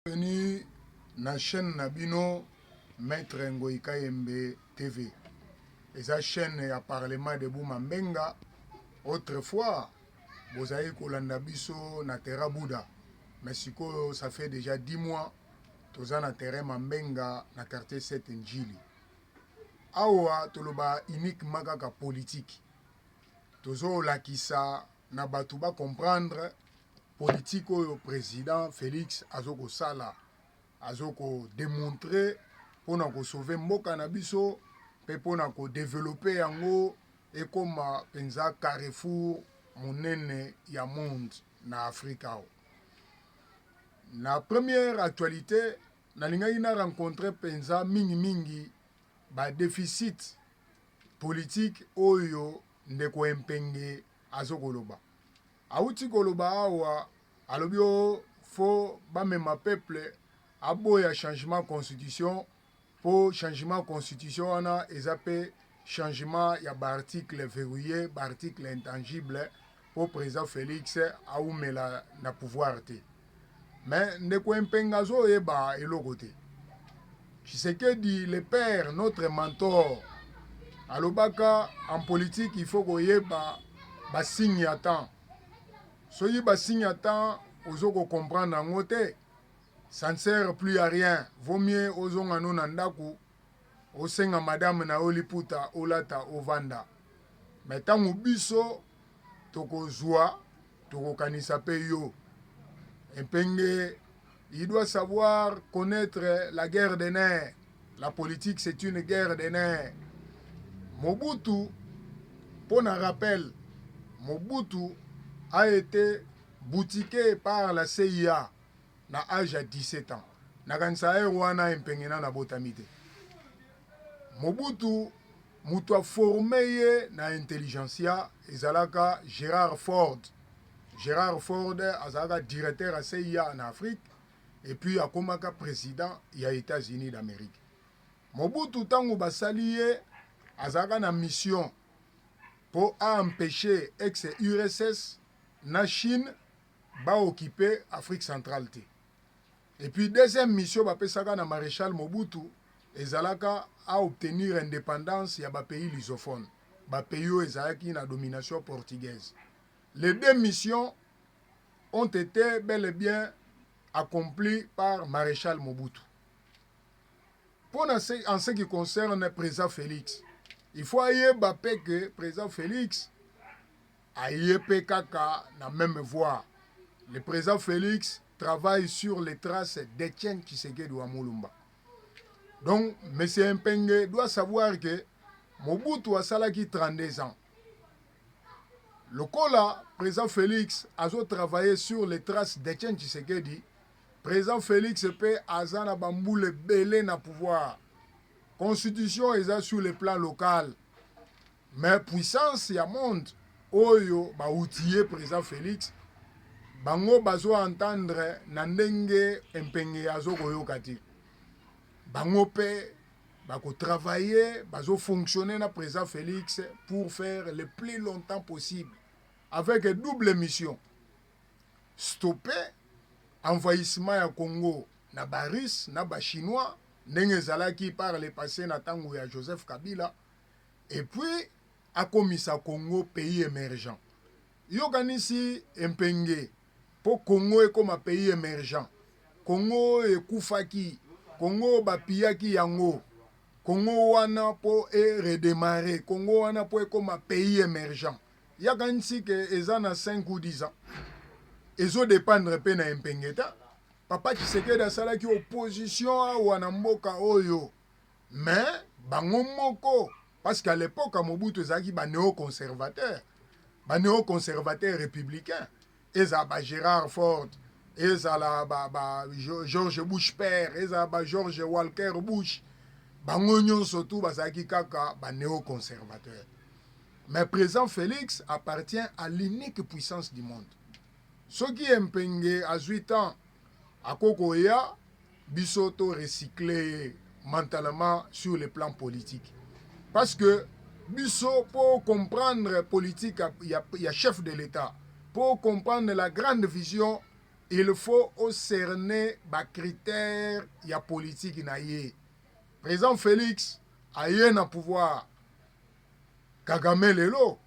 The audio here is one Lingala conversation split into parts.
Bienvenue na chaine na bino maitre ngoyi kayembe TV eza chaine ya parlement de buma mbenga autre fois bozalaki kolanda biso na terra bouda mais sikoyo ça fait déjà 10 mois toza na terrain mambenga na quartier 7 njili awa toloba uniquement kaka politique tozolakisa na bato ba comprendre politique oyo president Felix azokosala azoko demontrer pona ko sauver mboka na biso pe pona ko developper yango ekoma penza carrefour monene ya monde na Afrique awa. Na première actualité nalingaki na rencontrer penza mingi mingi ba deficit politique oyo ndeko Empenge azokoloba Awuti koloba awa alobi oh faut bamema peuple aboya changement constitution po changement constitution wana eza pe changement ya ba articles verrouilles ba articles intangibles po president Felix awumela na pouvoir te. Mais ndeko Empenga azo yeba eloko te. Tshisekedi le père notre mentor alobaka en politique il faut koyeba ba signe ya temps. Soki ba signe ya temps ozo ko comprendre yango te ça ne sert plus à rien. Vaut mieux ozonga no na ndaku osenga madame na yo liputa olata ovanda mais tango biso toko zua toko kanisa pe yo epenge il doit savoir connaitre la guerre de nerf la politique c'est une guerre de nerf mobutu pona rappel mobutu a ete boutiquer par la CIA na age ya 17 ans nakanisa heure wana empenge na nabotami te mobutu moto aforme ye na intelligentsia ezalaka gérard ford gérard ford azalaka directeur ya cia na afrique epuis akomaka président ya états-unis d'amérique mobutu ntango basali ye azalaka na mission mpo aempeshe ex urss na chine ba occupe Afrique centrale te et puis deuxième mission ba pesaka na Marechal Mobutu ezalaka a obtenir independance ya ba pays lusophones ba pays oyo ezalaki na domination portugaise les deux missions ont ete bel et bien accompli par Marechal Mobutu. Pour en ce qui concerne président Félix, il faut ayeba pe que président Félix aye pe kaka na meme voie le president Felix travaille sur les traces d'Etienne Tshisekedi wa Mulumba donc monsieur Mpenge doit savoir que Mobutu asalaki 32 ans lokola president Felix azo travailler sur les traces d'Etienne Tshisekedi president Felix pe aza na bambula ebele na pouvoir constitution eza sur le plan local Mais puissance ya monde oyo ba outiller president Felix, bango bazo entendre na ndenge Mpenge azo koyoka te. Bango pe ba ko travailler, bazo fonctionner na president Felix pour faire le plus longtemps possible avec double mission, stopper envahissement ya Congo na ba Russes na ba Chinois ndenge ezalaki par le passe na tango ya Joseph Kabila, et puis akomisa Congo pays emergent yo okanisi empenge po Congo ekoma pays emergent Congo oyo ekufaki Congo oyo ba piyaki yango Congo wana po e redemarrer Congo wana po ekoma pays emergent ye akanisi que eza na cinq ou dix ans ezo dependre pe na empenge te papa Tshisekedi asalaki opposition awa na mboka oyo Mais bango moko parce qu'à l'epoque ya Mobutu ezalaki ba neo-conservateurs, ba neo-conservateurs republicains, ezala ba Gerard Ford, ezala ba, ba George Bush père, ezala ba George Walker Bush, bango nyonso tout bazalaki kaka ba neo-conservateurs. Mais président Félix appartient à l'unique puissance du monde. Soki ye mpenge azwi temps Ako koya biso to recycler ye mentalement sur le plan politique. Parce que biso po comprendre politique ya, ya chef de l'Etat, po comprendre la grande vision, il faut o cerner ba critères ya politique na ye. Président Felix aye na pouvoir Kagame lelo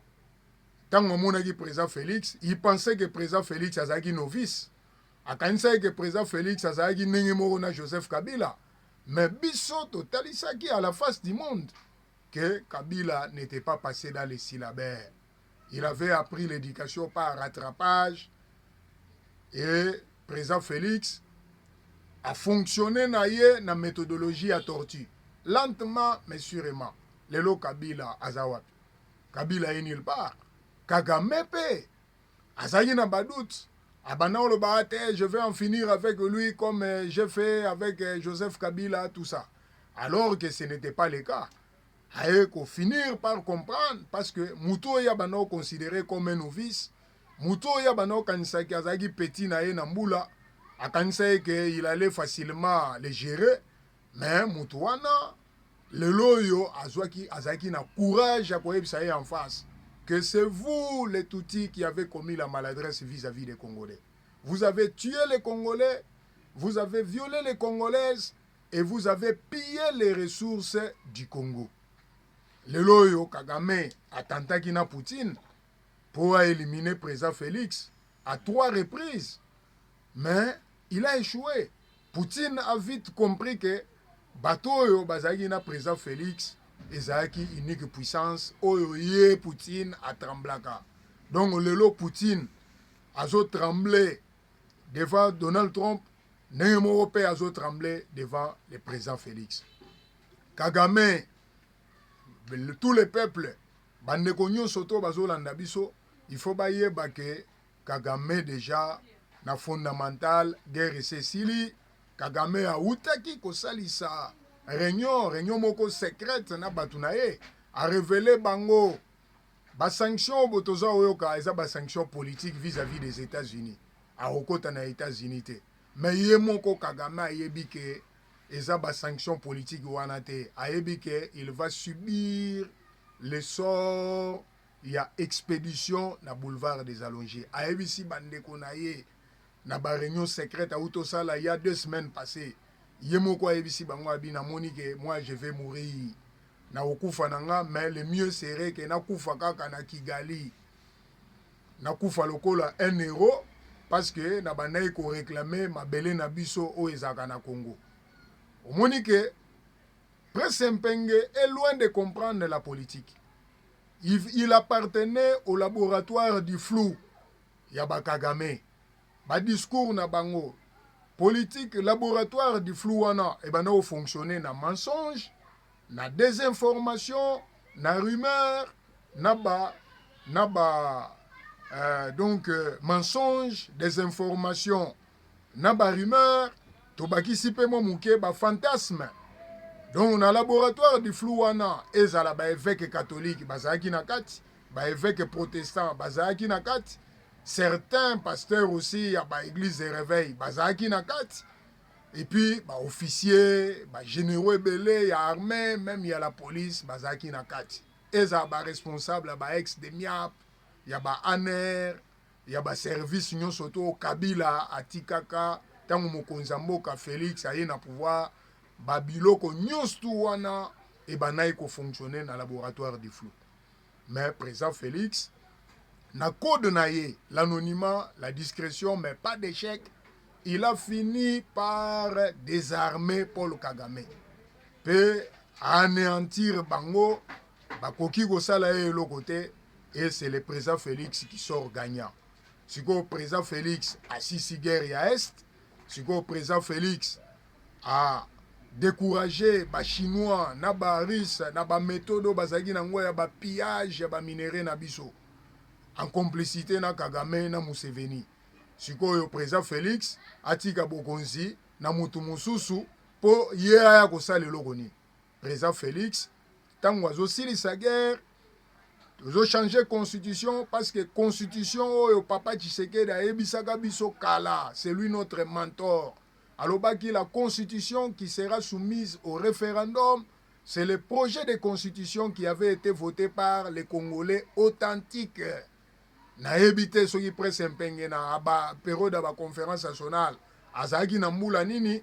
ntango amonaki président Felix, il pensait que président Felix azalaki novice Akanisaki ke president Felix azalaki ndenge moko na Joseph Kabila, mais biso totalisaki à la face du monde que Kabila n'etait pas passe dans les syllabaires. Il avait appris l'éducation par rattrapage et president Felix a fonctionné na ye na methodologie ya tortue lentement mais sûrement. Lelo Kabila aza wapi? Kabila ye nulle part. Kagame pe azalaki na ba doute abanda oloba ate ah, je vais en finir avec lui comme euh, j'ai fait avec euh, Joseph Kabila tout ça alors que ce n'était pas le cas aye ko finir par comprendre parce que moto oyo abanda oconsidere comme un novice moto oyo abanda okanisaki azalaki petit na ye na mbula akanisaki ke il allait facilement le gérer Mais mutu wana lelo oyo azwaki azalaki na courage ya koyebisa ye en face que c'est vous les Tutsis qui avez commis la maladresse vis-à-vis des Congolais. Vous avez tué les Congolais, vous avez violé les Congolaises et vous avez pillé les ressources du Congo. Lelo oyo Kagame atantaki na Poutine pour éliminer président Félix à trois reprises, mais il a échoué. Poutine a vite compris que bato oyo bazalaki na president Felix ezalaki unique puissance oyo ye Poutine a tremblaka. Donc lelo Poutine azo tremble devant Donald Trump ndenge moko pe azo tremble devant le president Felix. Kagame tous les peuples bandeko nyonso to bazolanda biso il faut bayeba que Kagame dejà na fondamental guerre esi esili kagame awutaki kosalisa reunion reunion moko secrète na batu na ye a revele bango ba sanction oyo toza oyoka eza ba sanction politique vis à vis des etats unis akokota na etats unis te mais ye moko kagame ayebi ke eza ba sanction politique wana te ayebi ke il va subir le sort ya expedition na boulevard des Allonges. Ayebisi ba ndeko na ye na ba reunions secrètes awuti osala il ya deux semaines passees. Ye moko ayebisi bango abi namoni ke moi je vais mourir. Nakokufa na nga mais le mieux serait ke nakufa kaka na Kigali. Nakufa lokola un heros parce que na bandaki ko reclamer mabele na biso oyo ezalaka na Congo. Omoni ke. Prince Mpenge est loin de comprendre la politique. Il, il appartenait au laboratoire du flou ya ba Kagame. Ba discours na bango politique laboratoire du flou wana ebanda ko fonctionner na mensonge, na desinformation, na rumeur, na ba na ba euh, donc euh, mensonge, desinformation. na ba rumeurs, tobakisi pe mwa moke ba fantasmes. Donc na laboratoire du flou wana ezala ba eveque catholique bazalaki na kati, ba eveque protestant bazalaki na kati, certains pasteurs aussi ya ba église de réveil bazalaki na kati et puis ba officiers ba généraux ebele ya armée même ya la police bazalaki na kati ezala ba responsable ya ba ex de miap ya ba aner ya ba service nionso to kabila atikaka tango mokonzi ya mboka felix aye na pouvoir ba biloko nionso tout wana ebandaki ko fonctionner na laboratoire du flou mais president felix na code na ye l'anonymat la discrétion mais pas d'échec il a fini par désarmer paul kagame pe anéantir bango Bakoki kosala ye eloko te et c'est le president Felix qui sort gagnant. Sikoyo president Felix asisi guerre ya Est. Sikoyo president Felix a decourage ba chinois na ba russe na ba methode oyo bazalaki na ngo ya ba pillage ya ba minerais na biso en complicité na Kagame na Museveni. Sikoyo president Felix atika bokonzi na mutu mosusu po ye aya kosala eloko nini? President Felix tango azo silisa guerre tozo changer constitution parce que constitution oyo papa Tshisekedi ayebisaka biso kala c'est lui notre mentor alobaki la constitution qui sera soumise au référendum c'est le projet de constitution qui avait été voté par les Congolais authentiques nayebi te soki presse mpenge na ba periode ya baconférence nationale azalaki na mbula nini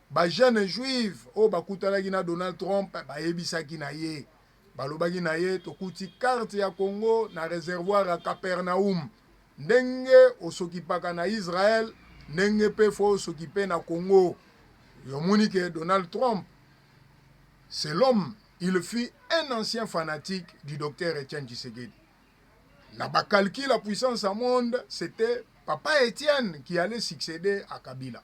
Ba jeunes juives oyo bakutanaki na Donald Trump bayebisaki na ye, balobaki na ye, Tokuti karte ya Congo na reservoir ya Capernaum. Ndenge osokipaka na Israël, ndenge pe fo osokipe na Congo. Omoni ke Donald Trump, c'est l'homme, il fut un ancien fanatique du Docteur Etienne Tshisekedi. Na ba calculs ya puissance ya monde, c'etait Papa Etienne qui allait succeder à Kabila.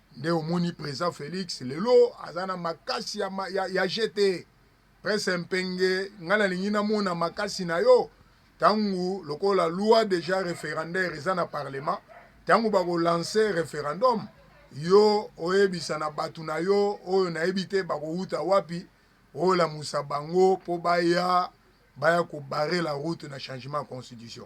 Nde omoni president Felix lelo aza na makasi ya, ya, ya je te presse mpenge ngai nalingi namona makasi na yo ntango lokola loi deja referendaire eza na parlement ntango bakolanse referendum yo oyebisa na bato na yo oyo nayebi te bakowuta wapi olamusa bango mpo baya baya kobare la route na changement ya constitution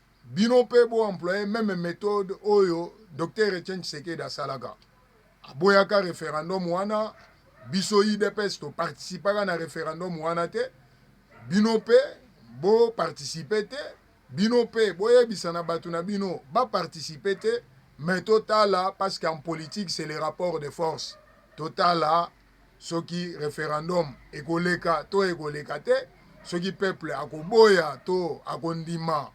Bino pe bo employer meme methode oyo Docteur Etienne Tshisekedi asalaka. Aboyaka referendum wana, biso UDPS to participaka na referendum wana te. Bino pe bo participer te, bino pe boyebisa na batu na bino ba participer te mais totala parce qu'en politique c'est le rapport de force. Totala soki referendum ekoleka to ekoleka te, soki peuple akoboya to akondima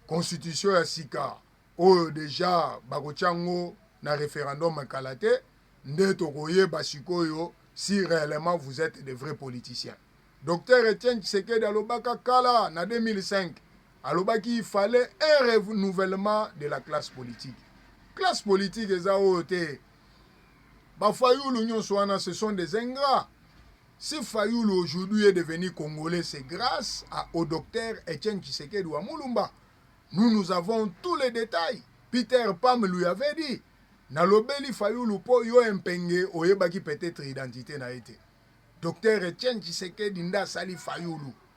constitution ya sika oyo deja bakotya yango na referendum kala te, nde tokoyeba sikoyo si reellement vous etes de vrais politiciens. Docteur Etienne Tshisekedi alobaka kala na 2005 alobaki il fallait un renouvellement de la classe politique. Classe politique eza oyo te Ba fayulu nionso wana ce sont des ingrats. Si fayulu aujourd'hui est devenu congolais c'est grace à au docteur Etienne Tshisekedi wa Mulumba. Nous nous avons tous les détails. Peter Pam lui avait dit nalobeli fayulu po yo empenge oyebaki peut-être identité na ye te. Docteur Etienne Tshisekedi nda sali fayulu.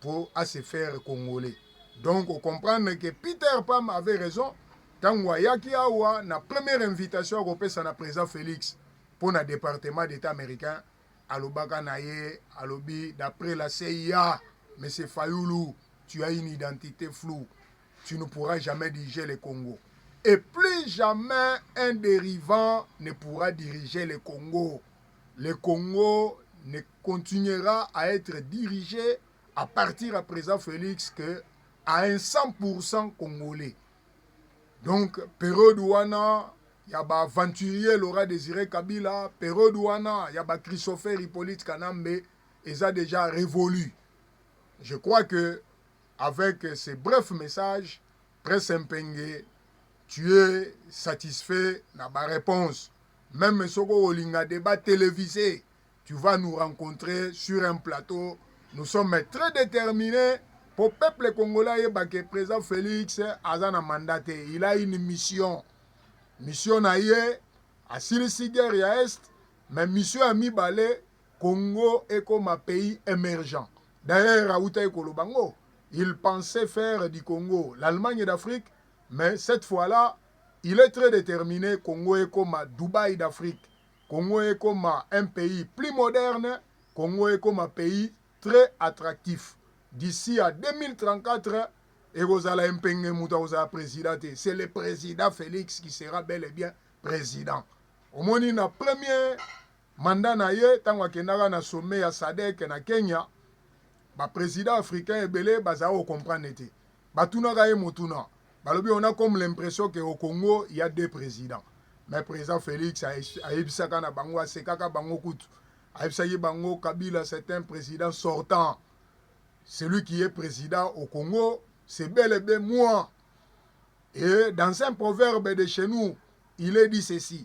po a se faire congolais donc o comprendre que Peter Pam avait raison tangu ayaki awa na première invitation ya kopesa na president Felix po na departement d'etat américain alobaka na ye alobi d'après la CIA monsieur Fayulu tu as une identité floue tu ne pourras jamais diriger le Congo. Et plus jamais un dérivant ne pourra diriger le Congo. Le Congo ne continuera à etre dirige à partir ya president Felix que à un 100% congolais. Donc periode wana ya ba aventurier Laura Desire Kabila, periode wana ya ba Christopher Hippolyte Kanambe eza déjà révolu. Je crois que avec ce bref message Très Sempenge, tu es satisfait na ba réponses. Même soki olinga débat télévisé, tu vas nous rencontrer sur un plateau. Nous sommes très déterminés po peuple congolais ayeba ke président félix aza na mandat te il a une mission mission na ye asilisi guerre ya est mais mission ya mibale congo ekoma pays émergent D'ailleurs awutaki koloba ngo, il pensait faire du Congo l'Allemagne d'Afrique mais cette fois là il est très determine Congo ekoma Dubaï d'Afrique, Congo ekoma un pays plus moderne, Congo ekoma pays très attractif. D'ici à 2034 ekozala empenge mutu akozala president te, c'est le president Felix qui sera bel et bien president. Omoni na premier Mandat na ye tango akendaka na sommet ya sadec na Kenya, ba presidents africains ebele bazalaki ko comprendre ye te. Batunaka ye motuna, balobi on a comme l'impression que au Congo il ya deux presidents. Mais president Felix ayebisaka na bango, asekaka bango kutu. Ayebisaki bango Kabila c'est un president sortant. Celui qui est president au Congo, c'est bel et bien moi. Et dans un proverbe de chez nous, il est dit ceci.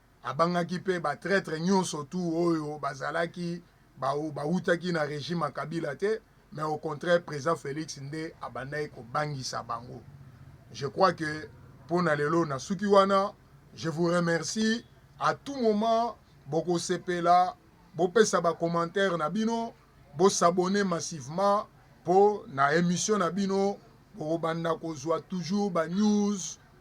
Abangaki pe ba traitres nionso tout oyo bazalaki bawutaki na regime ya Kabila te mais au contraire president Felix nde abandaki kobangisa bango. Je crois que pona lelo nasuki wana. Je vous remercie à tout moment bokosepela bopesa ba commentaires na bino bo s'abonner massivement po na emission na bino bokobanda kozua toujours ba news